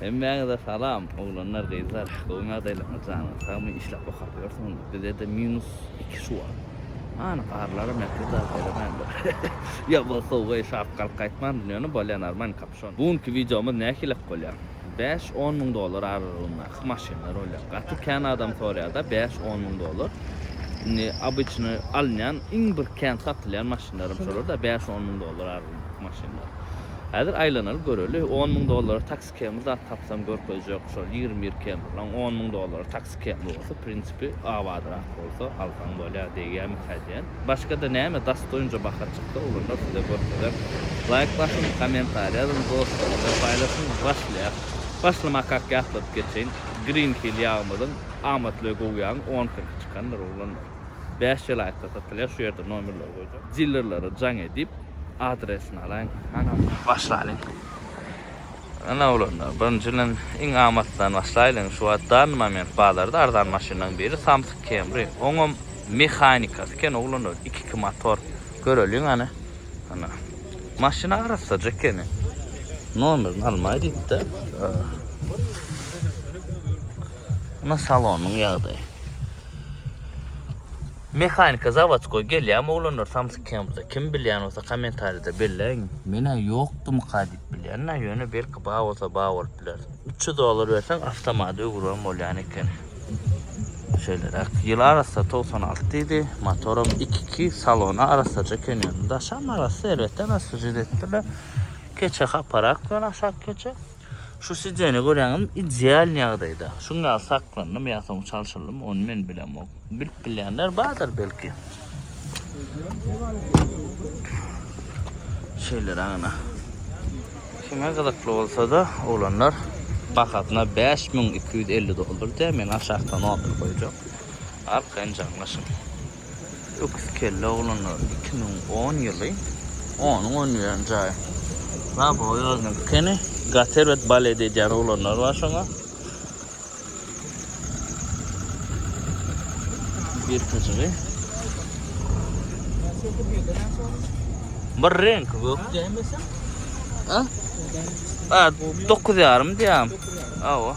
Hemmäňize salam oglanlar gyzlar gowymy ýagdaýlaryňyz janyňyz sagmy işläp okap ýörsiňizmi bizede minus iki şu wagt hany garlara mähri zat beremändir ýa bolsa uweý şap galyp gaýtman dünýäni bolýa normal kapşon bu günki wideomyz nähilek bolýa bäş on müň dollar aralygyndaky maşynlar bolýa gaty kän adam soraýada bäş on müň dollar indi obyçnyý alynýan iň bir kän satylýan maşynlarym şolarda bäş on müň dollar Ýok maşyn bar. Häzir aýlanaly göreli, on müň dollara taksi kemri zat tapsam görkezjek, şol ýigrimi bir kemrilaň on müň dollara taksi kemri bolsa, prinsipi, abadyrak bolsa alsaň bolýar, degýärmikä diýen. Başga-da näme dostoýnja baha çyksa, olanlary size görkezek. Laýk basyň, kommentariý ýazyň, dostlar bilen paýlaşyň. Başlaýas. Başlamakak ýatladyp geçeýin. Green Hill ýagymyzyň amatly we gowy ýagyň on kirpi çykandyr, oglanlar. Bäş jelaýtda satylýar şu ýerde nomerleri goýjak. Dillerlere jaň edip adresini alaýyň hanam. Başlalyň. Ana oglanlar birinji bilen iň amatlydan başlaýlyň şu wagt dany moment bazarda arzan maşynlaň biri Samsung Camry oňam mehanikasy eken oglanlar iki iki motor göreliň hany ana maşyn arassaja ekeni nomerini almaý diýipdä. Muna salonyň ýagdaýy. Mehanika zawodskoý gelýämi oglanlar samsyk kempusa kim bilýän bolsa kommentariýada belläýiň. Menä ýokdymyka diýip bilýänä ýöne belki bar bolsa bar bolup biler. Üç ýüz dollar berseň awtomat öwüribem bolýan ekeni. Şeýleräk. Ýyl arassa togsan alty diýdi. Motoram iki iki salona arassaja eken ýöne daşam arassa elbetde arassa jüz etdiler. Keçe haparak bilen aşak keçe. Şu sidzene göräňem ideal ýagdaýda. Şuň ýaly saklandym ýa soň çalşyldym, ony men bilemok. Bilip bilýänler bardyr belki. Şeýler aňyna. Kime gyzykly bolsa-da, oglanlar bahasyna 5250 dollar diýýär. Men aşakda notk goýjak. Arkaýyn jaňlaşyň. Öküz kelle oglanlar iki müň on ýyly onuň onuýan jaýy. Baba oýaznyň dükeni gaty erbet balet edýän oglanlar bar şoňa. Birkajygy. Bir renk gök. Ha? Ha, dokuz ýarym diýýäm. Awa.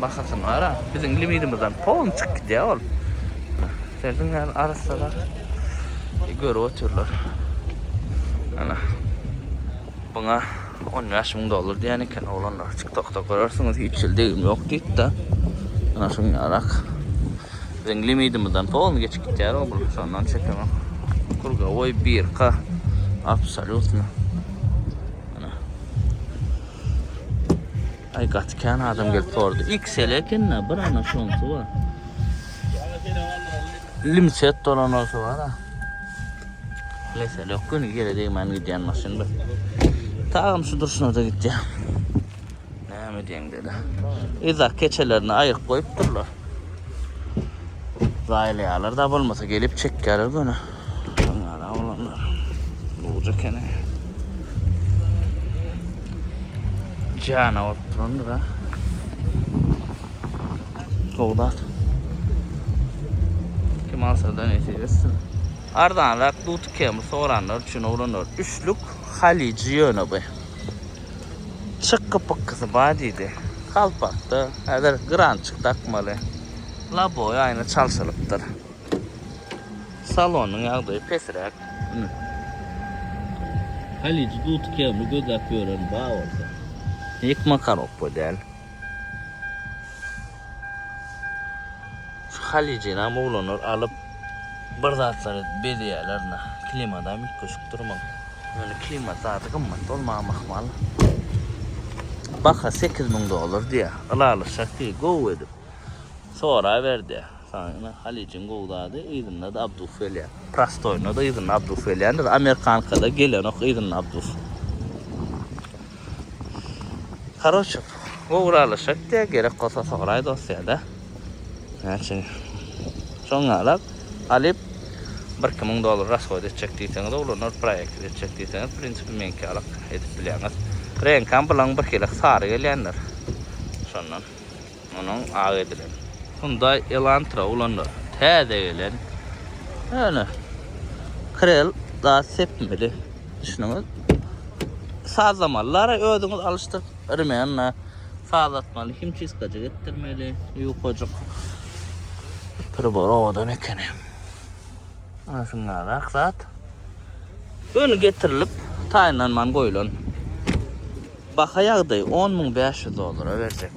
Bahasyny gara, biziň limidimizden polny çykyp gidýär ol. Serdiň ýaly arassalar. Görüp otyrlar. Ana. Buna 15 müň dollar diýen eken oglanlar. TikTokda görersiňiz, hiç ýyl degim ýok diýip-de. Ana şuň ýarak. Biziň limidimizden polny geçip gidýär ol. Şondan çekemek. Krugowoý birka. Absolýutno. Ay gaty kän adam gelip sordy. XL ekenne bir ana şonsu var. Limset dolan olsa var ha. Lesel yok günü yere değmen giden maşın bir. Tağım şu durşuna da gideceğim. Näme diýeň dedi. Izak keçelerini aýyryp goýupdyrlar. Zaýlaýarlar da bolmasa gelip çekýärler göni. Gara oglanlar. Buja ekeni. Jana bolup durandyr ha. Sowdat. Kim alsa da nesip etsin. Arzanrak dut kemi soranlar üçin oglanlar. Üçlük Haliji ýöne bu. Çykgy pykgysy bar diýdi. Galpakda häzir grançyk dakmaly. Loboý aýna çalşylypdyr. Salonyň ýagdaýy pesiräk. Halyjy duty kemli gözläp ýören ba bolsa. Ýykma korobka däl. Şu halyjynam oglanlar alyp bir zatlar edip bezeýärler na. Klimadam üýtgeşik durmaly. Ýöne klimat zady gymmat bolmagam ahmal. Baha sekiz müň dollar diýýär. Ylalaşak diýdi. Gowy edip soraber diýýär. Saňa ine halyjyň gowy zady yzynda-da abdus gelýär. Prostoýyna-da yzynda abdus gelýär. Indi amerikankada gelenok yzynda abdus. Karoçe ugralyşyk diýe gerek bolsa soraý dostýada. Näçe soň ýalak alyp bir iki müň dollar rashoýt etjek diýseňiz ulanor proýekti etjek diýseňiz w prinsipi meňki ýalak edip bilýäňiz. Reňkam bulaň birhili sary gelýändir şondan. Munuň ak edilen Hyundai Elantra ulanylýar. Täze gelen ýöne krel zat sepmeli. Düşündüňiz? Sazlamaly. Lary özüňiz alyşdyryp, rmenle sazlatmaly. Himçistka jigitdirmeli. Ýukajyk. Pribor owadan ekeni. Ana şundan ak zat. Öni getirilip, taýynlanman goýulan. Baha ýagdaýy on müň bäş ýüz dollara berjek.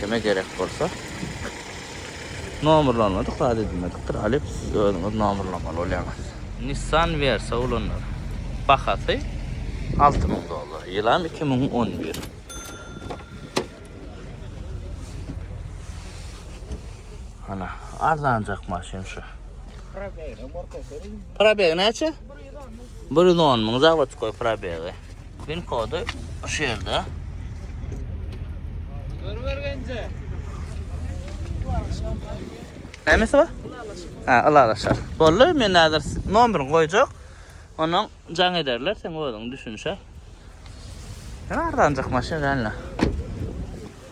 Kime gerek bolsa Nomerlanmadyk zat edilmedikdir alyp siz özüňiz nomerlamaly bolýaňyz. Nissan Versa ulanlar. Bahasy alty müň dollar. Ýylam iki müň on bir. Ana arzanjak maşyn şu. Probeg näçe? 110 müň zavodskoý probegi. Pin kody şu ýerde. Görbergenje. Nämesi bar? Ha, alalaşar. Boldy, men häzir nomerini goýjak. Onuň jaň ederler, sen özüň düşünişe. Arzanjak maşyn, ränle.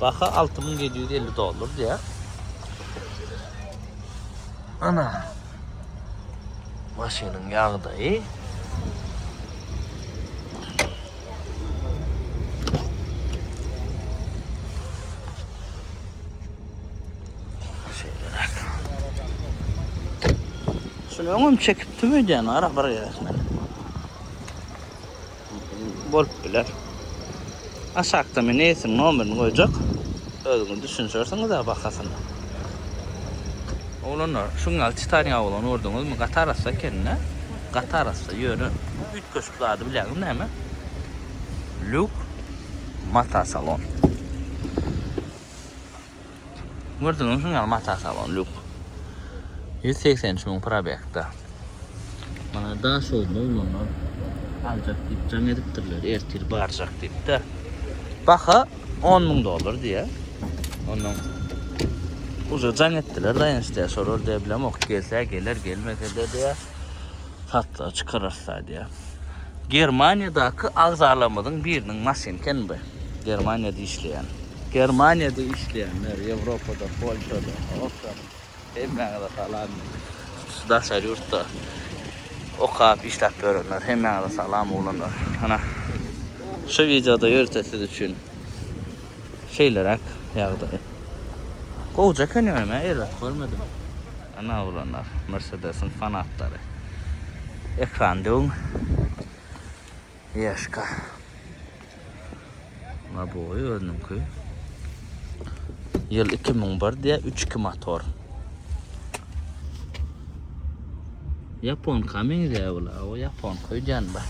Baha 6750 dollar diye. Ana. Maşynyň ýagdaýy. Şunu öňüm çekip tüm öýden ara bir ýerine. bolup biler. Aşakda men eýesiniň nomerini goýjak. Özüňiz düşünişersiňiz-ä bahasyna. Oglanlar, şu gün ýaly titan ýabygyny gördüňizmi? Gaty arassa eken-dä. Gaty arassa, ýöne üýtgeşik zady bilýäňiz näme? Luk Mata Salon. Gördügiňiz şunuň ýaly mata salon lux. Ýüz segsen üç müň probegda. Mana Daşoguzda oglanlar aljak diýip jaň edipdirler, ertir barjak diýip-de. Baha on müň dollar diýýär. Ondan uza jaň etdiler, daýanç diýýär, şolar diýýär bilemok, gelse geler, gelmese-de diýýär. satlyga çykararys da diýýär. Germaniýadaky agzalarymyzyň biriniň maşyny eken bu. Germaniýada işleýän. Germaniýada işleýänler, Ýewropada, Polşada, Awstriýada hemmäňize salam. Şu daşary ýurtda okap, işläp ýörenler hemmäňize salam oglanlar. Ana, şu wideoda ýörite siz üçin. Şeýleräk ýagdaý. Gowja eken ýöne men erbet görmedim. Ana oglanlar Mersedesiň fanatlary. Ekran döwüň. Ýeşka. Labowy özüniňki. Ýyl iki müň bir diýýär, üç iki motor. Ýaponka meňzeýär bu labo, ýaponka öýdýän bir.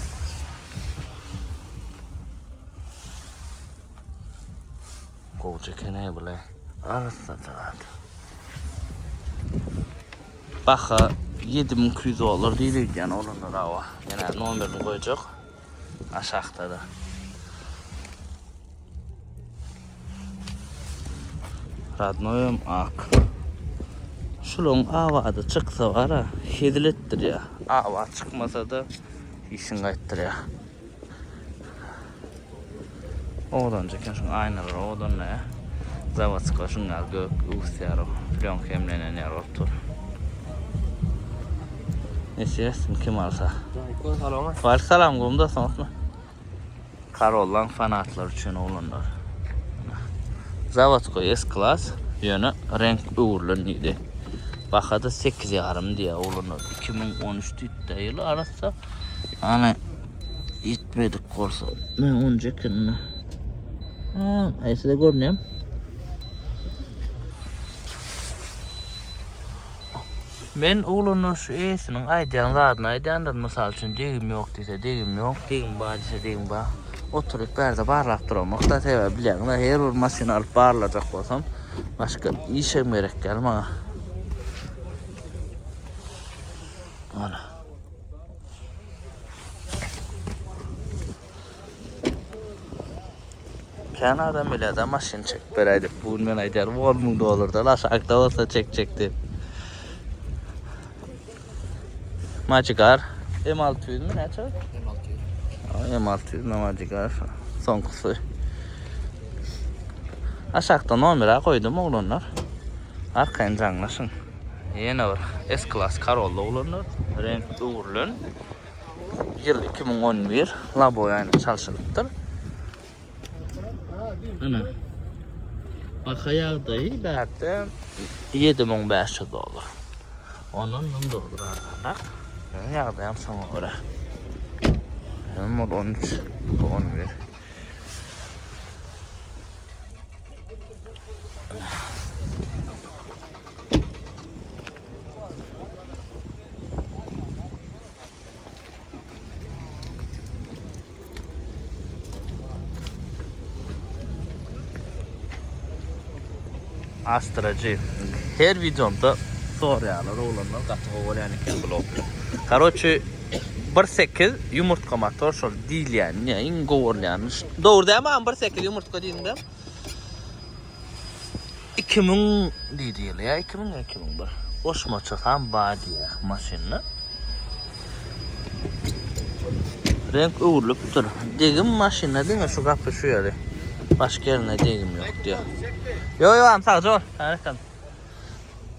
Gowy çekenä bile. Arasda tarat. Baha 7200 dolar diýilýär ýan olanda dawa. Ýene nomerini goýjak. Aşakda da. Radnoýum ak. Şularyň awady çyksa gara, hezil etdirýär. Awa çykmasa da işiň gaýtdyrýar. Owadanjy eken şuň aýnalar owadanla ya. Zawodska şuň ýaly gök öwüsýär o. Plýonka hemlenen ýaly bolup dur. Nesi etsin kim alsa. Aleyküm salam. Aleyküm salam gumda soňatma. Karollan fanatlar üçin oglanlar. Zawodska S klas ýöne renk öwrülen diýdi. Bahada 8 ýarym diýýär oglanlar. 2013 diýdi ýyl arassa. Ana Yetmedik bolsa. Men onu çekin. Ha, ay size görüneyim. Men oğlana şu esinin aydan zadını aydandır. Misal için degim yok dese degim yok. Degim var dese degim var. Oturup berde barlap duram. Hatta sebep bilen her bir masin alıp barlayacak olsam. Başka işem gerek gelme. Ana. Kän adam bilýär-de maşyn çekip beräý diýip. Bu gün men aýdýarym 10 müň dollardan aşakda bolsa çekjek diýip. Magigar M600 mi näçe? M600. M600 na Magigar soňkusy. Aşakda nomera goýdum oglanlar. Arkaýyn jaňlaşyň. Ýene bir S klass Corolla ulanlar. Reňk öwrülen. Ýyl 2011. Laboý aýna çalşylypdyr. Ana. Baka ýagdaýy bärde 7500 dollar. Ondan mum durdur arganrak. Mum ýagdaýam şoňa görä. Hem 13, 11. Astracı. Her videomda soraýarlar oglanlar gaty gowy bolýan eken blog. Karoçi 1.8 yumurtka motor şol diýilýän, iň gowy bolýan. Dogry dämi am 1.8 yumurtka diýdiňde? Iki müň diýdi ýyly ýa iki müň iki müň bir. Goşmaça san bar diýýär maşynda. Renk öwrülipdir. Degim maşynda diňe şu gapy şu ýeri. Başga ýerinde degim ýok diýýär. Ýo ýo am sag ol. Härekam.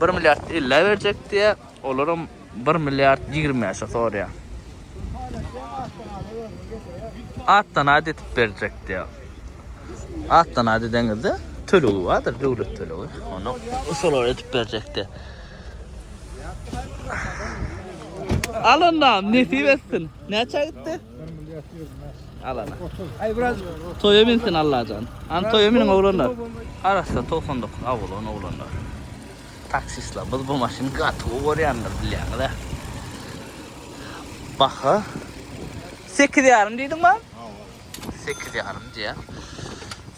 Bir milliard ellä berjek diýýär, olaram bir milliard ýigrimäşe soraýar. Atdan at etip berjek diýýär. Atdan at edeňizde tölegi bardyr, döwlet tölegi. Onu usular etip berjekdi. Alanam nesip etsin. Näçä gitdi? Alana. Ay biraz Toýa binsin Allajan. An toýa biniň oglanlar. Arassa 99 awulan oglanlar. Taksistler biz bu maşyny gaty gowy görýändir bilýäňiz hä? Baha 8 ýarym diýdiňmi? Hawa. 8 ýarym diýýär.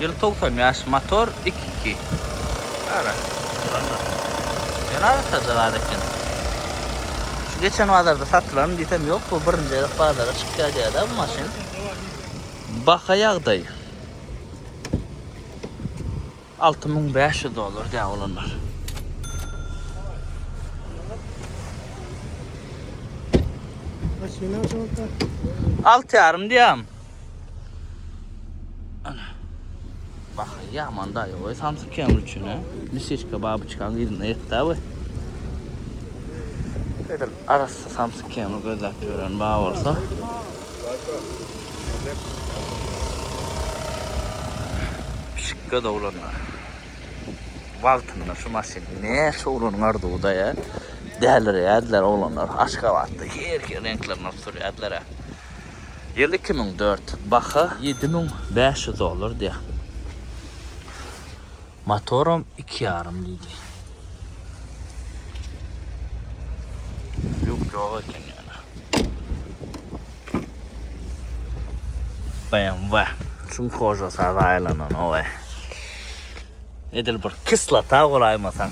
Ýyl togsan bäş, motor iki iki. Gara. Şonda. Ýöne arassa zat eken. Şu geçen bazarda satylan diýsem ýok, bu birinji gezek bazara çykýar diýýär-dä bu maşyn. Baha ýagdaý. Alty müň bäş ýüz dollar däp olanlar. Maşyna şolda. Alty ýarym diýýäm. Ana. Bak, ýaman da ýoga Samsung Camry üçin, he. Misişka babuçkan ýerine ýetdi bu. Edil arassa Samsung Camry gözläp ýören bar bolsa. Pişik gödowlanlar. Wagtynda şu maşyn näçe oglanyň arzuwyda ýa. Dälirýärdiler oglanlar. Aşgabatda her hil reňklerini alyp sürýärdiler-ä. Ýyl iki müň dört. Baha ýedi müň bäş ýüz dollar diýýär. Motoram iki ýarym diýdi. Lýuk ýok eken ýöne. BMW. Şuň hožasy az aýlanan owe. Edil bir kislota golaýmasaň.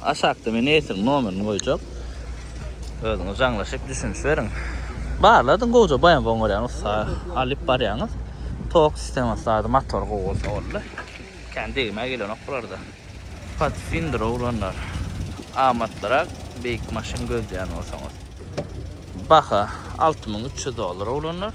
Aşakda men eýesiniň nomerini goýjak. Özüňiz jaňlaşyp düşüniş beriň. Barladyň gowja baýam goň görýän ussa alyp barýaňyz. Tok sistemasy zady motory gowy bolsa boldy. Kän degmä gelenok bularda. Patfinder oglanlar amatlyrak beýik maşyn gözleýän bolsaňyz. Baha alty müň üç ýüz dollar oglanlar.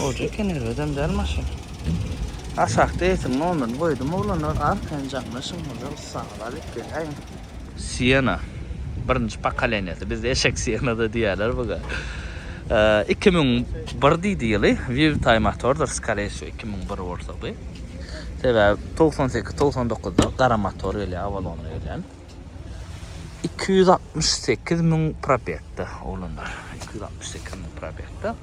Goja eken erbedem däl maşyn. Aşakda etin nomerini goýdum oglanlar arkaýyn jaňlaşyň hoja ussaňyz alyp geleýin. Siena. Birinji pokoleniýasy. Bizde eşek sienada diýýärler buga. Iki müň bir diýdi ýyly. Vivtaý motordyr skore wsýo iki müň bir bolsa bu. Sebäbi togsan sekiz togsan dokuzda gara motor gelýär awalonly gelýän. Iki ýüz altmyş sekiz müň probegde oglanlar. Iki ýüz altmyş sekiz müň probegde.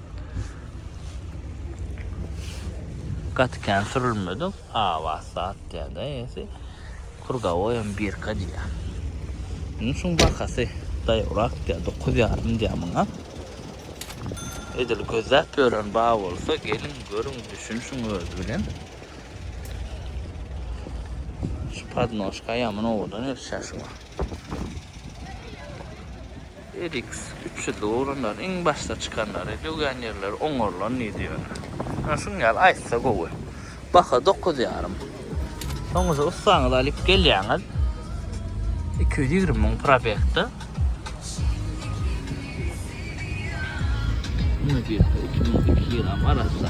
Gaty kän sürülmedi. Awas zat diýende ýesi. Kurgawoý hem birka diýýär. Munuň şuň bahasy daýawrak diýýär. Dokuz ýarym diýýär muňa. Edil gözläp ýören bar bolsa, geliň, görüň, düşünişiň öz bilen. Şu podnoşka ýamyn owadan ölçä şu. Edik 300 ugrundan iň başda çykanlary dögän ýerleri oňarylan diýdi ýöne. Ýa şuň ýaly aýtsa gowy. Baha 9 ýarym. Soňuja ussaňyzy alyp gelýäňiz. 220 müň probekde. Müdirde 2002 ýylam arassa.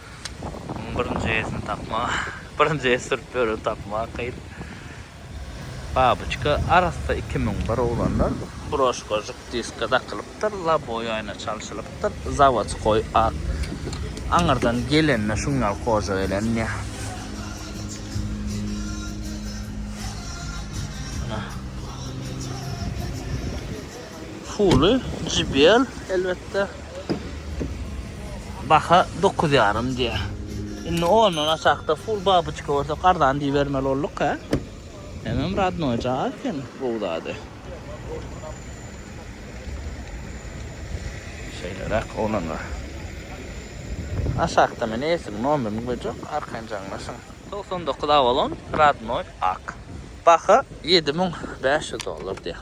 Muň birinji esini tapmak, birinji es sürüp ýören tapmak kyn. Babuçka, arassa iki müň bir oglanlar. Broşka žyk diska dakylypdyr, laboý aýna çalşylypdyr, zawodskoý at. Aňyrdan gelende şuň ýaly koja gelenýä. Ana. Fuly JBL elbetde. Baha dokuz ýarym diýýär. Indi ondan aşakda full babuçka görse arzan diýibermeli bolduk hä? Hemem radnoý jaý eken gowy zady. Şeýleräk oglanlar. Aşakda men esigi nomerini goýjak arkaýyn jaňlaşyň. Togsan dokuz awalon radnoý ak. Baha ýedi müň bäş ýüz dollar diýýär.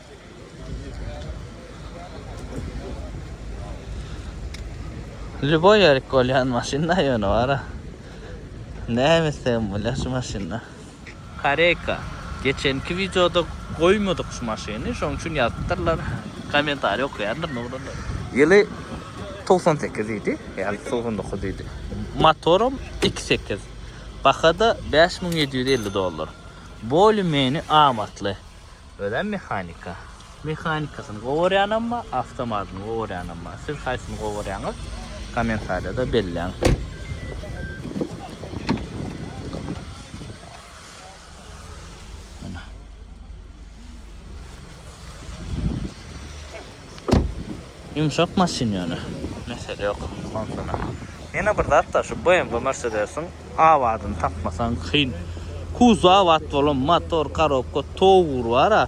Ljuboý ýerik bolýan maşynda ýöne bara. Näme islegem bolýar şu maşynda. Koreýka. Geçenki wideoda goýmadyk şu maşyny, şonuň üçin ýazypdyrlar. Kommentariý okaýarlar nogrunlar. Ýyly togsan sekiz idi, ýa togsan dokuz idi. Motoram iki sekiz. Baha-da bäş müň ýedi ýüz elli dollar. Bolü-meni amatly. Özem mehanika. Mehanikasyny gowy görýänem bar, awtomatyny gowy görýänem bar. Siz haýsyny gowy görýäňiz? Kommentariýada belläň. Ýumşak maşyn ýöne. Mesele ýok onsuna. Ýene bir zatda şu BMW Mercedes-iň abadyny tapmasaň kyn. Kuzow abat bolan motor, korobka towr bar-a,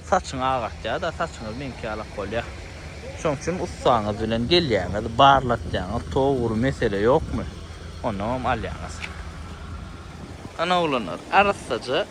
saçyňy agartýar-da, saçyňyz meňki ýalak bolýar. Şoň üçin ussaňyz bilen gelýäňiz, barlatýaňyz towr mesele ýokmy, onnoňam alýaňyz. Ana oglanlar, arassaja.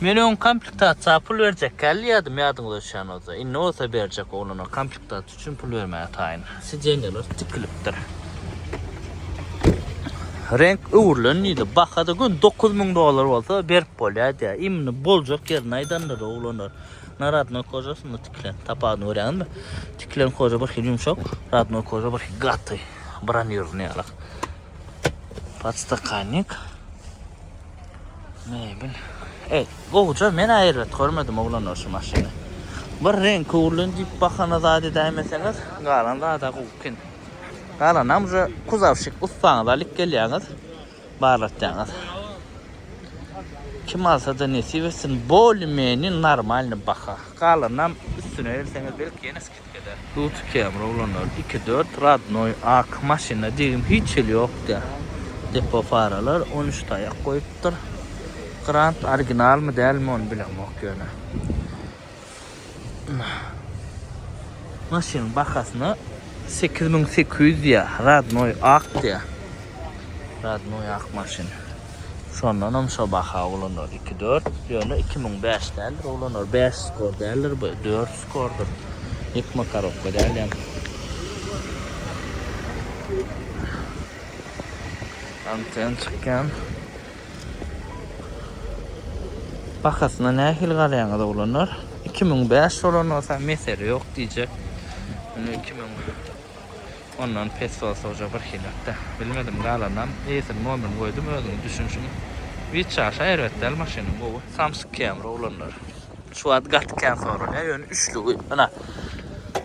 Men öň komplektasiýa pul berjek kälýärdim ýadyňyza düşen bolsa. Indi bolsa berjek oglanlar komplektasiýa üçin pul bermäge taýyn. Sideniýalar tikilipdir. Reňk öwrülen diýdi. Baha da gün 9000 dollar bolsa berip bolýar diýär. Imini boljak ýerini aýdandyr oglanlar. Na radnoý kožasynda tikilen. Tapawudyny görýäňizmi? Tikilen koža bir hili ýumşak, radnoý koža bir hili gaty. Bronirowany ýaly. Podstakannik. Mebel. Ey, gowja men aýryt görmedim oglanlar şu maşyny. Bir reň köwrülen diýip bahana zat edäýmeseňiz, galan zada gowy eken. Galanam şu kuzawşik ussaňyz alyp gelýäňiz, barlatýaňyz. Kim alsa-da nesip etsin, boli-meni normalny baha. Galanynam üstüne gelseňiz belki ýene Dut kemir oglanlar iki dört radnoý ak maşynda degim hiç hili ýok dä depo faralar on üç taýak goýupdyr grant originalmy dälmi ony bilemok ýöne maşynyň bahasyna sekiz müň sekiz ýüz diýýär radnoý ak diýýär radnoý ak maşyn. Şondanam şo baha uglanýar. Iki dört. Ýöne iki müň bäş däldir uglanýar. Bäş skor däldir bu. Dört skordyr. Ýük makarowka däl ýa. Anten çykýan. Bahasyna nähili garaýaňyz oglanlar? Iki müň bäş bolan bolsa mesele ýok diýjek. Ine iki müň. Ondan pes soz-sowja birhilak-da. Bilmedim, galanynam eýesini mobil goýdum, özüňiz düşünişiň. Witçaşa erbet däl maşynyň gowy. Samsyk Camry oglanlar. Şu wagt gaty kän soralýar, ýöne üçlügi ynha,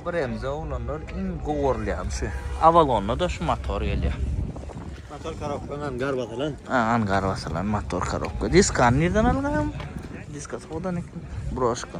bremzy oglanlar iň gowy görülýäni şu. Avalon-da şu motor gelýär. Motor korobkaň angar basylan. A, angar basylan motor korobka. Diskany nirden algaýaň? Diska sodan ekeni. Broşka.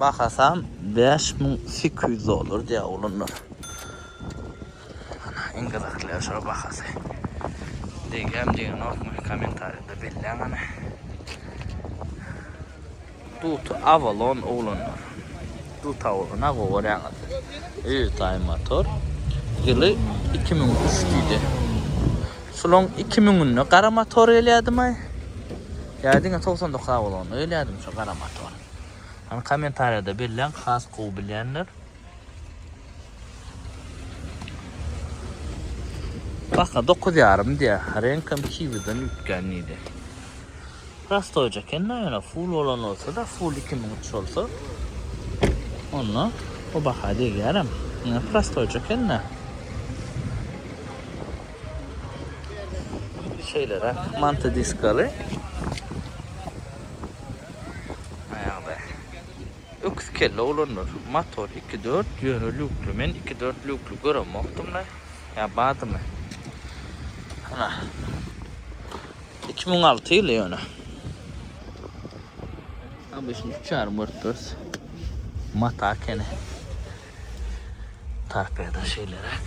Bahasam bäş müň sekiz ýüz dollar diýýär oglanlar. Ana, iň gyzykly ýeri şolar bahasy. Degýärmi, degenokmy, kommentariýada belläň ana. Dut Avalon oglanlar. Dut Avalon ha görýäňiz. Öýe taý motor. Ýyly 2300 diýdi. Şulaň iki müňünde gara motor gelýädimay. Ýa diňe togsan dokuz a bolanda gelýädim şu gara motor. Hany kommentariýada belläň has gowy bilýänler. Baka dokuz ýarym diýä. Reňkem kiwiden üýtgän diýdi. Prostoýja eken-de ýöne full bolan bolsa-da, full iki müň üç bolsa, onda bu baha degýärem. Ýöne prostoýja eken-de. Şeýleräk manta diskaly. Aýagda. Öküz kelle oglanlar. Motor iki dört ýöne lýukly. Men iki dört lýukly göremokdym-da. Ýa bardymy? Ana. Iki müň alty ýyly ýöne. Obýşni üç ýarym görüp durus. Mata ekeni. Tarpýada şeýleräk.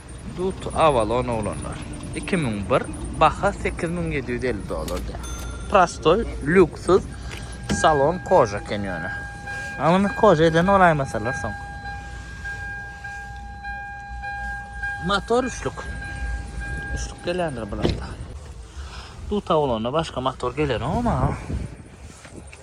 Dut Avalon oglanlar. Iki müň bir, baha sekiz müň ýedi ýüz elli dollar diýýär. Prostoý, lýuksyz, salon koja eken ýöne. A muny koja eden bolaýmasalar soň. Motor üçlük. Üçlük gelýändir bularda. Dut Avalonda başga motor gelenok ama.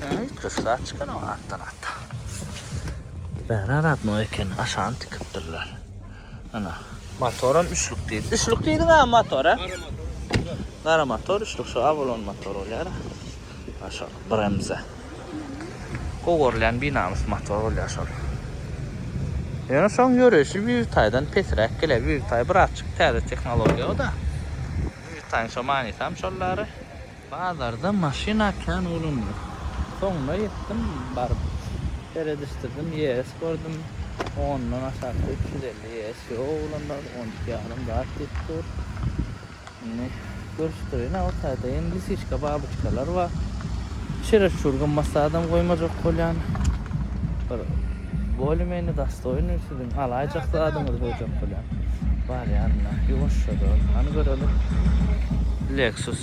Hei, köşkler çykan o artdan hatta. Bära radno eken, aşany tikipdirler. Ana, motoram üçlük diýdi. Üçlük diýdiň a motor, a? Gara motor, üçlük şu Avalon motor bolýar. Aşa Bremze. Gowy görlen binamys motor bolýar şol. Ýöne şoň ýöreýşi Vivtaydan pesräk gelýär. Vivtay birazçyk täze tehnologiýa o-da. Vivtaýyň şo manysam şollary. Bazarda maşyna kän bolundy. Soňuna ýetdim baryp. Seredişdirdim ýes gördüm. Ondan aşakda üç ýüz elli ýes ýok oglanlar on iki ýarym zat diýip dur. Indi görüşdireýin a o taýda ýene lisiçka babyçkalar bar. Çereçur gymmat zadam goýmajak bolýan. Bir bolye menýe dastoýnyý siziň alaýjak zadyňyzy goýjak bolýan. Barýan ynha ýuwaşjadan. Hany göreli. Lexus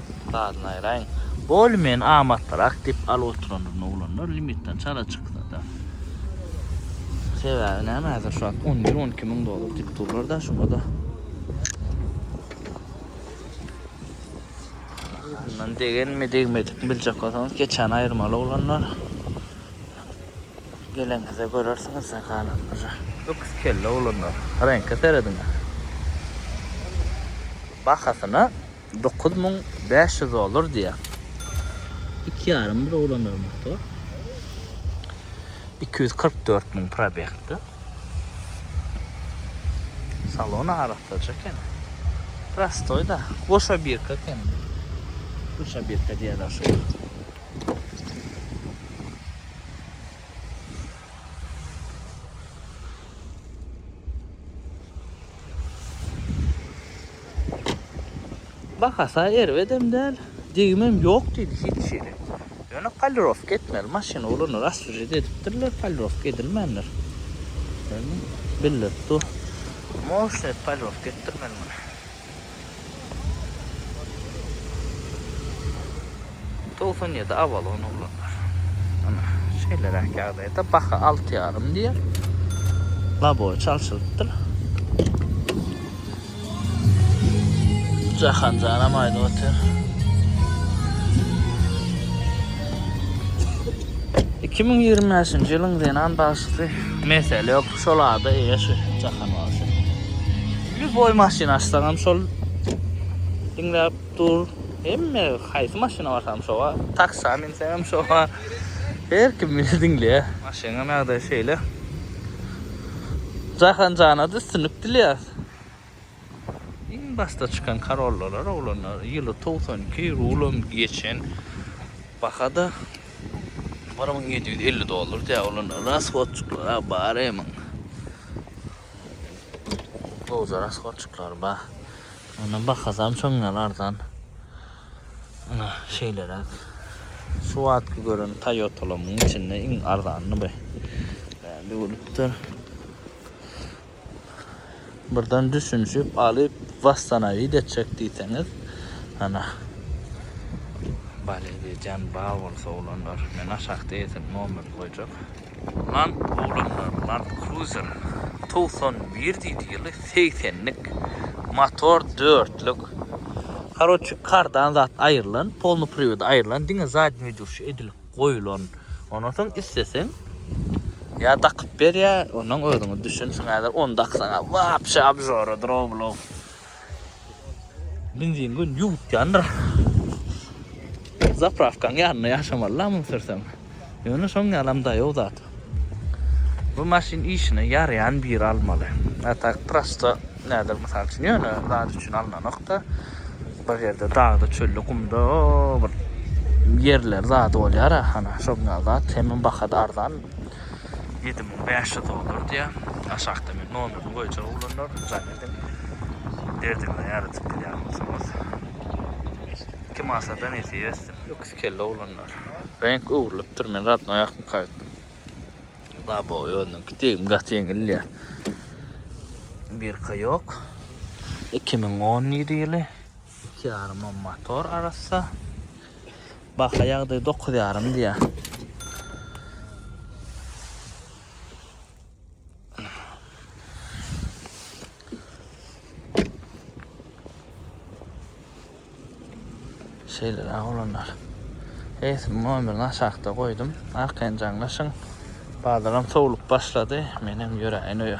Badyny aýraýyň. Bol men amatlyrak dep alyp oturandyr oglanlar limitden çala çyksada. Sebäbi näme häzir şu wagt on bir on iki müň dollar dep durlarda şonada. Bundan degenmi degmedikmi biljek bolsaňyz geçäni aýyrmaly oglanlar. Geleňizde görersiňiz galanlary. Öküz kelle oglanlar reňke serediňä. Bahasyna. Dokuz müň bäş ýüz dollar diýýär. Iki ýarym ýyl ulanýar motor. Iki ýüz kyrk dört müň probegdi. Salon arassaja eken. Prostoý-da. Goşa birka eken. Goşa birka diýýärler şuňa. Bahasy erbedem däl, degimem ýok diýdi hiç hili. Ýöne polirowka etmeli maşyn oglanlar asflžit edipdirler, polirowka edilmändir. Gördüňmi? Bildirip dur. Moşny edip polirowka etdirmeli muny. Togsan ýedi avalon oglanlar. Ana, şeýleräk ýagdaýda baha alty ýarym diýer. Labowy çalşylypdyr. Jahan janam aýdyp otyr. Iki müň ýigrimi bäşinji ýylyň zenan bagşysy. Mesele ýok, şol ada eýe şu Jahan bagşy. Lýuboý maşyn açsaňam şol diňläp Dur. Hemme haýsy maşyna barsam şoga. Taksa minsem şoga. Her kim meni diňleýä. Maşynyň ýagdaýy şeýle. Jahan jana-da üstünlik dileýäs. Iň başda çykan Corollalar oglanlar ýyly togsan iki rulam geçen baha-da bir müň ýedi ýüz elli dollar diýýä oglanlar. Rashodçyklar-a bar eýmiň. Gowja rashodçyklar ba. Ony bahasam şondan arzan. Ana şeýleräk. Şu wagtky gören Toyotalaryň içinde iň arzanyny bu. Bändi bolupdyr. Birden düşünşip alyp wastanawid etjek diýseňiz. Ana. Bale diýjän ba bolsa olanlar. Men aşakda eýesiniň nomerini goýjak. Land Roverlar, Land Cruiser, togsan bir diýdi ýyly segsenlik motor dörtlük karoçi kardan zat aýrylan polny privodi aýrylan diňe zadnýoý durşy edilip goýulan ondan soň isleseň ýa dakyp ber ýa ondan özüňiz düşünsiň häzir ony daksaňa wapşe abžoradyr o blow Benzin gün ýuwup ýandyr. Zapravkaň ýanynda ýaşamaly la muny sürseň. Ýöne şoň ýalam daýaw zat. Bu maşyn işine ýaraýan biri almaly. A tak prosta näder mysal üçin ýöne zat üçin alnanokda. Bir ýerde dagda, çölde, gumda bir ýerler zady bolýar a hana şoň ýaly zat. Hemem bahasy arzan. Ýedi müň bäş ýüz dollar diýýär. Aşakda men nomerini goýjak oglanlar. Jany. etdim. Derdimden ýaradyp bilýän bolsaňyz. Iki masadan ýesip ösdüm. Öküz kelle oglanlar. Reňk öwrülipdir men radnoý akmyka etdim. Babo özüniňki degim gaty ýeňilýä. Birka ýok. 2017 ýyly. Iki ýaryma motor arassa. Baha ýagdaý dokuz ýarym diýýä. Şeyler ağlanlar. Eýse mobil aşakda goýdum. Arkaýyn jaňlaşyň. Bazaram sowlup başlady. Menem ýöräýin öýe.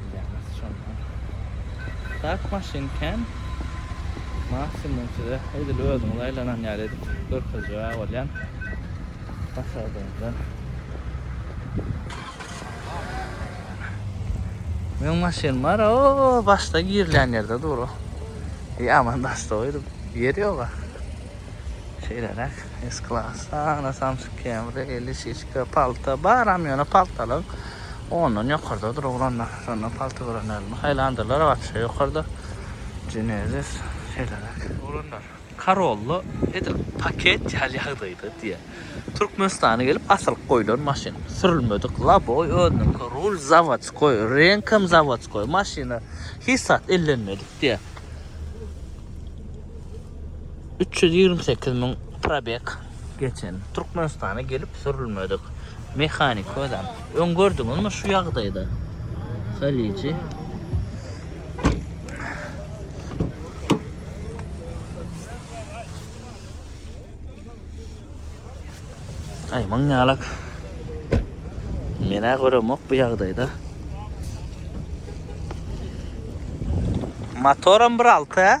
Bilýäňiz şonda. Tak maşyn kän. Maksimum size edil özüňiz aýlanan ýaly edip görkezjek bolýan. Başardygyňdan. Men maşyn bar o başda girilýän ýerde dur o. Ýa aman daşda goýdum. Ýer ýoga. Şeýleräk. S-Class, Ana Samsung Camry, Elişişka, palta, baram ýöne paltalyň. Ondan ýokardadyr oglanlar. Şonda palta görenlerimi saýlandyrlar. Waspşa ýokarda. Jenezis şeýleräk. Oglanlar, Karollo edil paket ýaly ýagdaýda diýýär. Türkmenistana gelip asylyp goýlan maşyn. Sürülmedik loboý özüniňki, rul zawodskoý, reňkem zawodskoý maşyna hiç zat ellenmedik diýýär. Üç ýüz ýigrimi sekiz müň probeg. Geçen Türkmenistana gelip sürülmedik mehanik özem. Öň gördüňizmi şu ýagdaýda? Haliji. Ay maň ýalak. Menä göremok bu ýagdaýda. Motoram bir alta.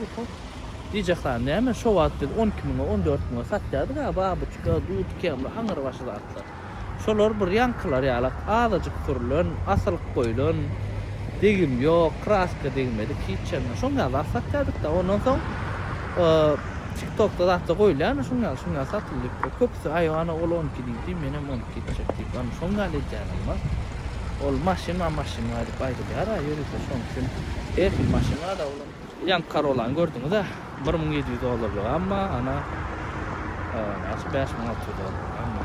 Oho. Diýjekhan, näme, şo wagt biz on iki müňe, on dört müňe satýardyk a, babuçka, dudkemli, aňrybaşy zatlar. Şolar bir ýaňkylar ýalak, azajyk sürlen, asylyk goýlan, degim ýok, kraska degmedik, hiç ýerine. Şoň ýaly zat satýardyk-da. Ondan soň TikTok-da zat-da goýulýar-da, şoň ýaly, şoň ýaly satyldyk. Köpüsi, aý, ana, ol on iki diýdi, men hem on iki etjek diýip, ana, şoň ýaly edýänem bar. Ol maşyn-a, maşyn-a diýip aýdylýar-a, ýörite şoň üçin her hil maşyn-a-da ol. Ýaňky Karolany gördüňiz-ä, bir müň ýedi ýüz dollarlyk, emma ana, näçe, bäş müň alty ýüz dollarlyk, emma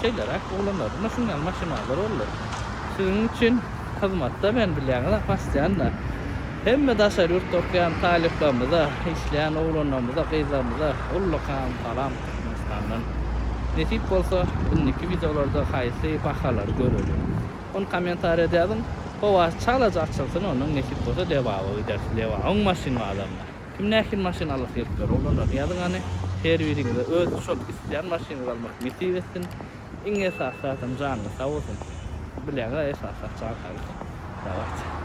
şeýleräk oglanlardan-da şunuň ýaly maşynalar boldy. Siziň üçin hyzmatda men, bilýäňiz-ä, postoýanna hemme daşary ýurtda okaýan talyplarymyza, işleýän oglanlarymyza, gyzlarymyza ullakan salam Türkmenistandan. Nesip bolsa, indiki wideolarda haýsy bahalary göreliň. Ony kommentariýa da ýazyň. Howasy çalaja açylsyn onuň nesip bolsa Lebaba gideris Lebabyň maşyn bazarynda. Kim nähili maşyn alasy gelip ýör oglanlar ýazyň hany. Her biriňize öz şol isleýän maşynyňyzy almak nesip etsin. Iň esasy zadam janyňyz sag bolsun. Bileňiz a esasy zat jan saglyk. Dawayt.